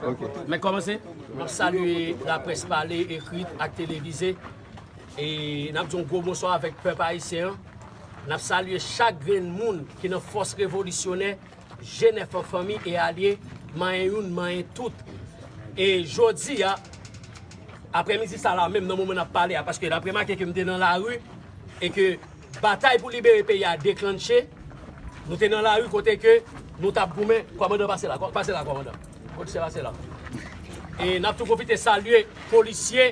Mwen kòmanse, map salye laprès pale, ekrit ak televize e nap di yon gwo bonswa avèk pèp ayisyen an. Nap salye chak grenn moun ki nan fòs revolisyonè Jenèf an fanmi e alye manyen youn manyen tout. E jodi a, aprèmidi sa la menm nan moman nap pale a paske nap remake ke m te nan lari e ke Batay pou libere peyi a deklanche, nou te nan lari kote ke nou tap goumen, kòmandan pase la, pase la kòmandan, polisye pase la, e nap tou pwofite salye polisye,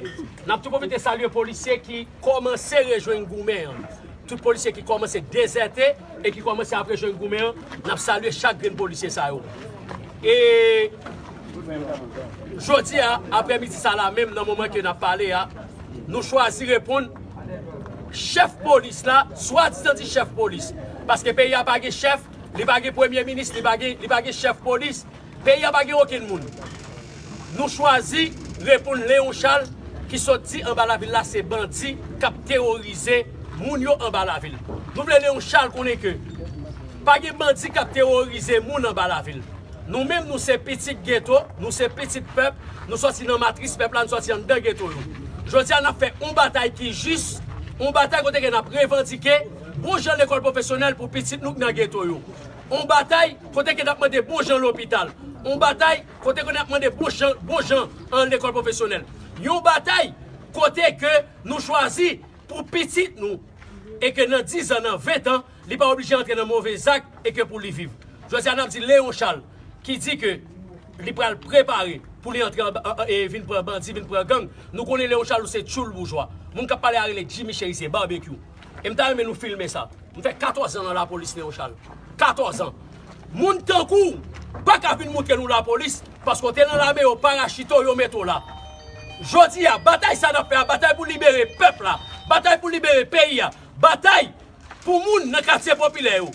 nap tou pwofite salye polisye ki kòmanse rejwenn goumen an, tout polisye ki kòmanse dezète e ki kòmanse ap rejwenn goumen an, nap salye chak grenn polisye sa yo. E jodi a aprè midi sa la menm nan moman ke nap pale a, Nou chwazi reponn chèf polis la, swadizan di chèf polis. Paske peyi a pa gen chèf, li pa gen premye minis, li pa gen chèf polis, peyi a pa gen okenn moun. Nou chwazi reponn Leon Charles ki sot di anba lavil la se bandi k ap teworize moun yo anba lavil. Nou vle Leon Charles konnen ke. Pa gen bandi kap terorize moun anba lavil. Nou menm nou se pitit geto, nou se pitit pèp, nou sòti nan matris pèp la, nou sòti anndan geto yo. Jodi a nap fè on batay ki jis, on batay kote ke nap revandike bon jan lekòl pwofesyonèl pou pitit nou k nan geto yo. On batay kote ke nap mande bon jan lopital. On batay kote ke nap mande bon jan bon jan an lekòl pwofesyonèl. Yon batay kote ke nou chwazi pou pitit nou e ke nan dizan, nan ventan, Li pa oblije antre nan move zak e ke pou li viv. Jodi a n ap di Léon Charles ki di ke li pral prepare pou li antre e vin pran bandi, vin pran gang. Nou konnen Léon Charles se tchoul boujwa. Moun k ap pale a rele Jimmy Chérizier, Barbecue. E m ta renmen nou filme sa. M fè 14 an nan lapolis Léon Charles. 14 an. Moun tankou w pa ka vin moutre nou lapolis paske w te nan lame yo parachite w, yo mete w la. Jodi a batay sa n ap fè a, batay pou libere pèp la, batay pou libere peyi a, batay Pou moun nan katye popilè yo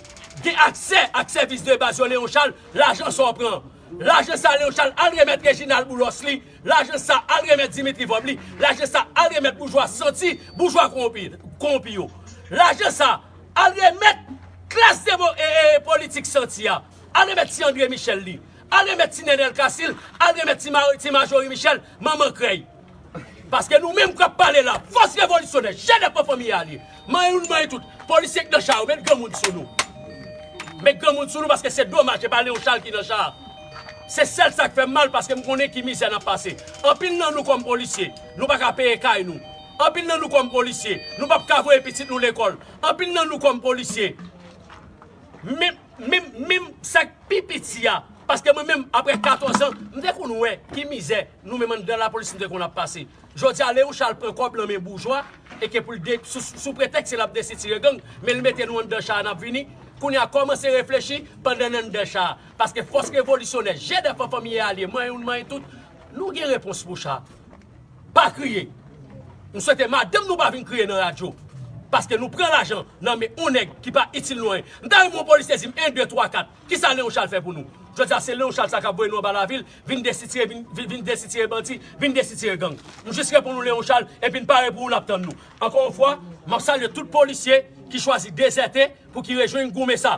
gen aksè ak sèvis de baz yo Léon Charles lajan sa w pran lajan sa Léon Charles al remèt Reginald Boulos li lajan sa al remèt Dimitri Vorbe li lajan sa al remèt boujwa santi boujwa kowonpi yo lajan sa al remèt klas politik santi a al remèt ti André Michel li Al remet ti nenel casil al remet ti majorie michel manman krey paske nou menm kap pale la fos revolisyonè jene pran fanmi ya li manyen nou manyen tout polisye ki nan cha yo met granmoun sou nou met granmoun sou nou paske se domaj epa leon chal ki nan cha se sel sak fem mal paske m konnen ki mizè nap pase anpil nan nou kom polisye nou paka peye kay nou anpil nan nou kom polisye nou pap ka voye pitit nou lekol anpil nan nou kom polisye men Minm minm sak pi piti a paske mwen menm aprè 14 ans m te konn wè ki mizè nou menm anndan lapolis nou te konn ap pase jodi a le yon cha al pran kòb nan men boujwa e ke poul de sou pretèks se lap desitire gang men l mete nou anndan cha a nap vini kounye a kòmanse reflechi pandan n anndan cha a paske fòs revolisyonè je dèfan fanmi e alye manyen nou manyen tout nou gen repons pou cha. Pa kriye. M swete madanm nou pa vin kriye nan radyo. Paske nou pran lajan nan men yon nèg ki pa itil nou anyen. M ta renmen yon polisye di m 1, 2, 3, 4 kisa Leon Charles fè pou nou. Jodi a se Leon Charles sa k ap voye nou anba lavil, vin desitire vin desitire bandi, vin desitire gang. M jis reponn ou Leon Charles epi n pare pou ou l ap tann nou. Ankò yon fwa, m ap salye tout polisye ki chwazi dezète pou ki rejwenn goumen sa.